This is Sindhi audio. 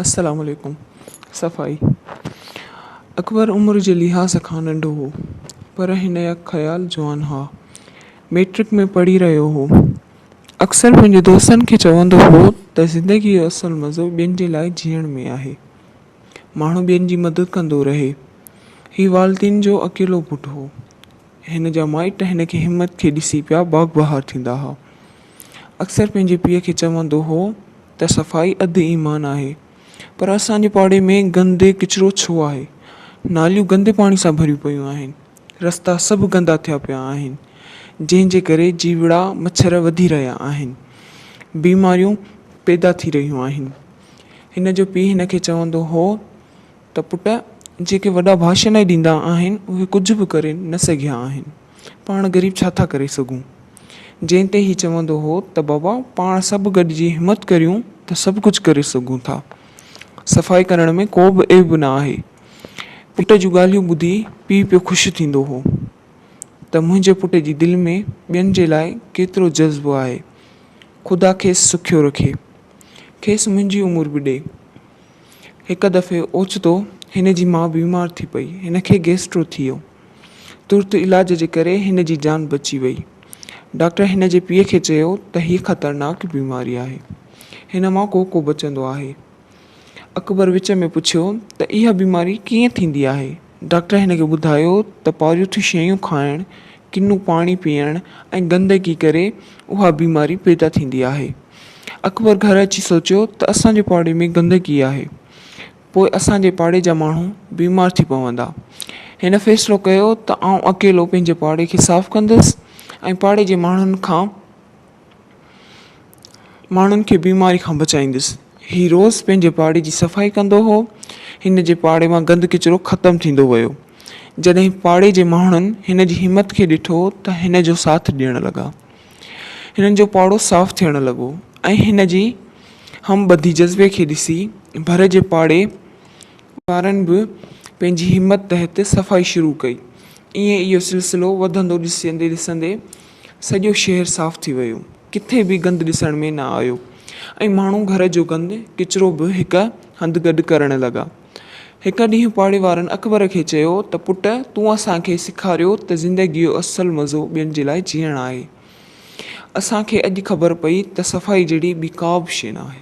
السلام عليڪم صفائي اڪبر عمر جي لحاظ کان ننڍو هو پر هن يا خيال جوان ها ميٽرڪ ۾ پڙهي رهيو هو اڪثر پنهنجي دوستن کي چوندو هو ته زندگي جو اصل مزو ٻين جي لاء جيئڻ ۾ آهي ماڻهو ٻين جي مدد ڪندو رهي هي والدين جو اڪيلو پٽ هو هن جا مائٽ هن کي همت کي ڏسي پيا باغ بهار ٿيندا ها. اڪثر پنهنجي پيء کي چوندو هو ته صفائي اڌ ايمان آهي پر اسان جي پاڙي ۾ گندي ڪچرو ڇو آهي؟ ناليون گندي پاڻي سان ڀريون پيون آهن، رستا سڀ گندا ٿيا پيا آهن، جنهن جي ڪري جيوڙا مڇر وڌي رهيا آهن، بيماريون پيدا ٿي رهيون آهن. هن جو پيء هن کي چوندو هو ته پٽ جيڪي وڏا ڀاشن ئي ڏيندا آهن اهي ڪجهه به ڪري نه سگهيا آهن. پاڻ غريب ڇا ٿا ڪري سگهون. جنهن تي هي چوندو هو ته بابا پاڻ سڀ گڏجي همت ڪريون ته سڀ ڪجهه ڪري سگهون ٿا. صفائي ڪرڻ ۾ ڪو به عيب نه آهي. پٽ جون ڳالهيون ٻڌي پيء پيو خوش ٿيندو هو ته منهنجي پٽ جي دل ۾ ٻين جي لاء ڪيترو جذبو آهي. خدا کيس سکيو رکي. کيس منهنجي عمر به ڏي. هڪ دفعي اوچتو هن جي ماء بيمار ٿي پئي. هن کي گيسٽرو ٿي ويو. ترت علاج جي ڪري هن جي جان بچي وئي. ڊاڪٽر هن جي پيء کي چيو ته هيء خطرناڪ بيماري آهي. هن مان ڪو ڪو بچندو آهي. اڪبر وچ ۾ پڇيو ته اها بيماري ڪيئن ٿيندي آهي؟ ڊاڪٽر هن کي ٻڌايو ته پاريوٿيون شيون کائڻ، ڪنو پاڻي پيئڻ ۽ گندگي ڪري اها بيماري پيدا ٿيندي آهي. اڪبر گهر اچي سوچيو ته اسان جي پاڙي ۾ گندگي آهي، پوء اسان جي پاڙي جا ماڻهو بيمار ٿي پوندا. هن فيصلو ڪيو ته آئون اڪيلو پنهنجي پاڙي کي صاف ڪندس ۽ پاڙي جي ماڻهن کان ماڻهن کي بيماري کان بچائيندس. هي روز پنهنجي پاڙي جي صفائي ڪندو هو. هن جي پاڙي مان گند ڪچرو ختم ٿيندو ويو. جڏهن پاڙي جي ماڻهن هن جي همت کي ڏٺو ته هن جو ساٿ ڏيڻ لڳا. هنن جو پاڙو صاف ٿيڻ لڳو ۽ هن جي هم ٻڌي جذبي کي ڏسي ڀر جي پاڙي وارن به پنهنجي همت تحت صفائي شروع ڪئي. ائين اهو سلسلو وڌندو ڏسندي ڏسندي سڄو شهر صاف ٿي ويو، ڪٿي به گند ڏسڻ ۾ نه آيو ۽ ماڻهو گهر جو گند ڪچرو به هڪ هنڌ گڏ ڪرڻ لڳا. هڪ ڏينهن پاڙي وارن اڪبر کي چيو ته پٽ تون اسان کي سيکاريو ته زندگي جو اصل مزو ٻين جي لاء جيئڻ آهي. اسان کي اڄ خبر پئي ته صفائي جهڙي ٻي ڪا به شيء ناهي.